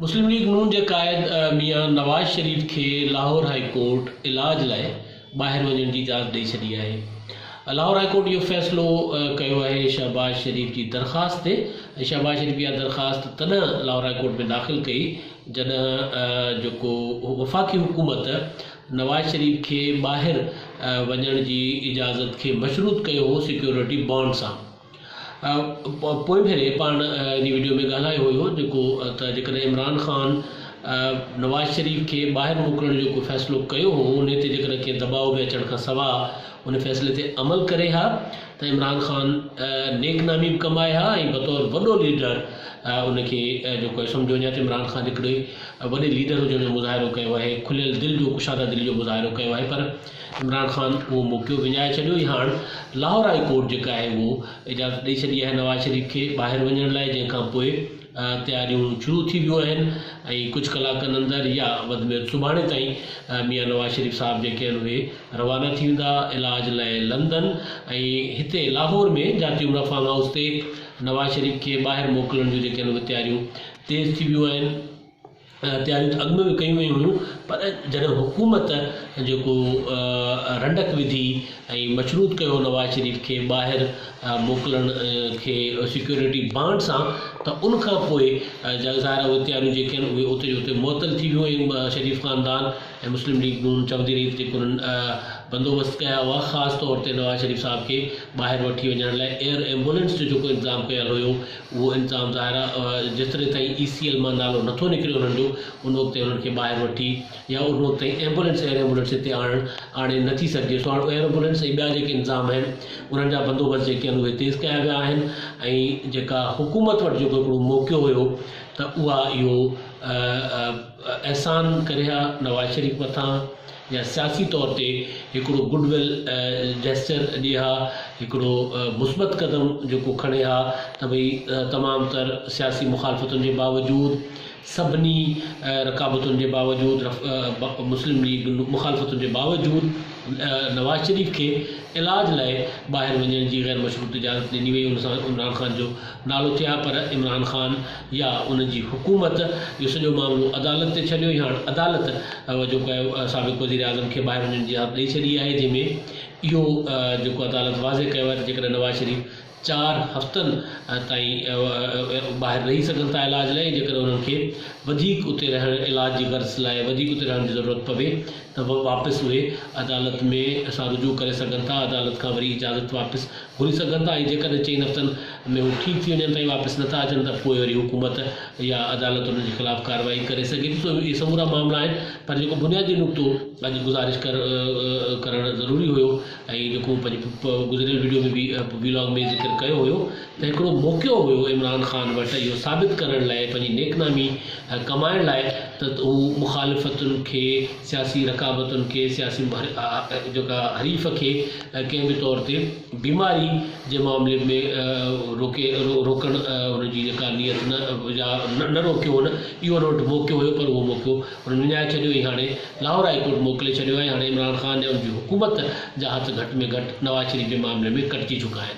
مسلم ليگ نون جي قائد ميان نواز شريف کي لاهور هائي ڪورٽ علاج لاء ٻاهر وڃڻ جي اجازت ڏئي ڇڏي آهي. لاهور هائي ڪورٽ اهو فيصلو ڪيو آهي شهباز شريف جي درخواست تي ۽ شهباز شريف اها درخواست تڏهن لاهور هائي ڪورٽ ۾ داخل ڪئي جڏهن جيڪو وفاقي حڪومت نواز شريف کي ٻاهر وڃڻ جي اجازت کي مشروط ڪيو هو سيڪيورٽي بانڊ سان. پوئين ڀيري پاڻ جي وڊيو ۾ ڳالهايو هيو جيڪو ته جيڪڏهن عمران خان نواز شريف کي ٻاهر موڪلڻ جو ڪو فيصلو ڪيو هو انهي تي جيڪڏهن ڪنهن دٻاء ۾ اچڻ کان سوا ان فيصلي تي عمل ڪري ها ته عمران خان نيڪ نامي به ڪمائي ها ۽ بطور وڏو ليڊر ان کي جيڪو سمجهو وڃي ته عمران خان هڪڙي وڏي ليڊر هجڻ جو مظاهرو ڪيو آهي کليل دل جو ڪشاده دل جو مظاهرو ڪيو آهي پر عمران خان اهو موقعو وڃائي ڇڏيو ۽ هاڻ لاهور هاء ڪورٽ جيڪا آهي اهو اجازت ڏئي ڇڏي آهي نواز شريف کي ٻاهر وڃڻ لاء جنهن کان پوء تياريون شروع ٿي ويون آهن ۽ ڪجهه ڪلاڪن اندر يا وڌ ۾ وڌ سڀاڻي تائين ميان نواز شريف صاحب جيڪي آهن اهي روانا ٿي ويندا علاج لاء لندن ۽ هتي لاهور ۾ جاتي عمرا فارم هائوس تي نواز شريف کي ٻاهر موڪلڻ جون جيڪي آهن اهي تياريون تيز ٿي ويون آهن. تياريون ته اڳ ۾ به ڪيون ويون هيون پر جڏهن حڪومت جيڪو رنڊڪ وڌي ۽ مشروط ڪيو نواز شريف کي ٻاهر موڪلڻ کي سيڪيورٽي بانڊ سان ته ان کان پوء ظاهر اهي تياريون جيڪي آهن اهي اتي جو اتي معطل ٿي ويون ۽ شريف خاندان ۽ مسلم ليگ نون چوندي رهي ته جيڪو انهن بندوبست ڪيا هئا خاص طور تي نواز شريف صاحب کي ٻاهر وٺي وڃڻ لاء ايئر ايمبولينس جو جيڪو انتظام ڪيل هيو اهو انتظام ظاهرا جيسترين تائين اي سي ايل مان نالو نٿو نڪري انهن جو ان وقت تائين انهن کي ٻاهر وٺي يا ان وقت تائين ايمبولينس ايئر ايمبولينس هتي آڻڻ آڻي نٿي سگهجي سو هاڻ ايئر ايمبولينس ۽ ٻيا جيڪي انتظام آهن انهن جا بندوبست جيڪي آهن اهي تيز ڪيا ويا آهن ۽ جيڪا حڪومت وٽ جيڪو هڪڙو موقعو هيو ته اها اهو احسان ڪري ها نواز شريف مٿان يا سياسي طور تي هڪڙو گڊ ويل جيسچر ڏي ها، هڪڙو مثبت قدم جيڪو کڻي ها ته ڀئي تمام تر سياسي مخالفتن جي باوجود، سڀني رڪابتن جي باوجود، مسلم ليگ ن مخالفتن جي باوجود نواز شريف کي علاج لاء ٻاهر وڃڻ جي غير مشروط اجازت ڏني وئي ان سان عمران خان جو نالو ٿئي ها پر عمران خان يا ان جي حڪومت اهو سڄو معاملو عدالت تي ڇڏيو هاڻ عدالت جيڪو آهي سابق وزيراعظم کي ٻاهر وڃڻ جي اجازت ڏئي ڇڏي آهي جنهن ۾ اهو جيڪو عدالت واضح ڪيو آهي ته جيڪڏهن نواز شريف چار هفتن تائين ٻاهر رهي سگهن ٿا علاج لاء جيڪڏهن انهن کي وڌيڪ اتي رهڻ علاج جي غرض لاء وڌيڪ اتي رهڻ جي ضرورت پوي ته واپس اهي عدالت ۾ اسان رجوع ڪري سگهن ٿا عدالت کان وري اجازت واپس گهري سگهن ٿا ۽ جيڪڏهن چئن هفتن ۾ هو ٺيڪ ٿي وڃن ٿا ۽ واپس نٿا اچن ته پوء وري حڪومت يا عدالت انهن جي خلاف ڪارروائي ڪري سگهي ٿي سو اهي سمورا معاملا آهن پر جيڪو بنيادي نقطو اڄ گذارش ڪر ڪرڻ ضروري هيو ۽ جيڪو مون پنهنجي گذريل وڊيو ۾ به ويلاگ ۾ ذڪر ڪيو هيو ته هڪڙو موقعو هيو عمران خان وٽ اهو ثابت ڪرڻ لاء پنهنجي نيڪنامي ڪمائڻ لاء ته هو مخالفتن کي سياسي رقابتن کي سياسي جيڪا حريف کي ڪنهن به طور تي بيماري جي معاملي ۾ روڪي روڪڻ ان جي جيڪا نيت نه يا نه روڪيو هن اهو ان وٽ موقعو هيو پر اهو موقعو هن وڃائي ڇڏيو ۽ هاڻي لاهور هاء ڪورٽ موڪلي ڇڏيو آهي هاڻي عمران خان يا ان جي حڪومت جا هٿ گهٽ ۾ گهٽ نواز شريف جي معاملي ۾ ڪٽجي چڪا آهن.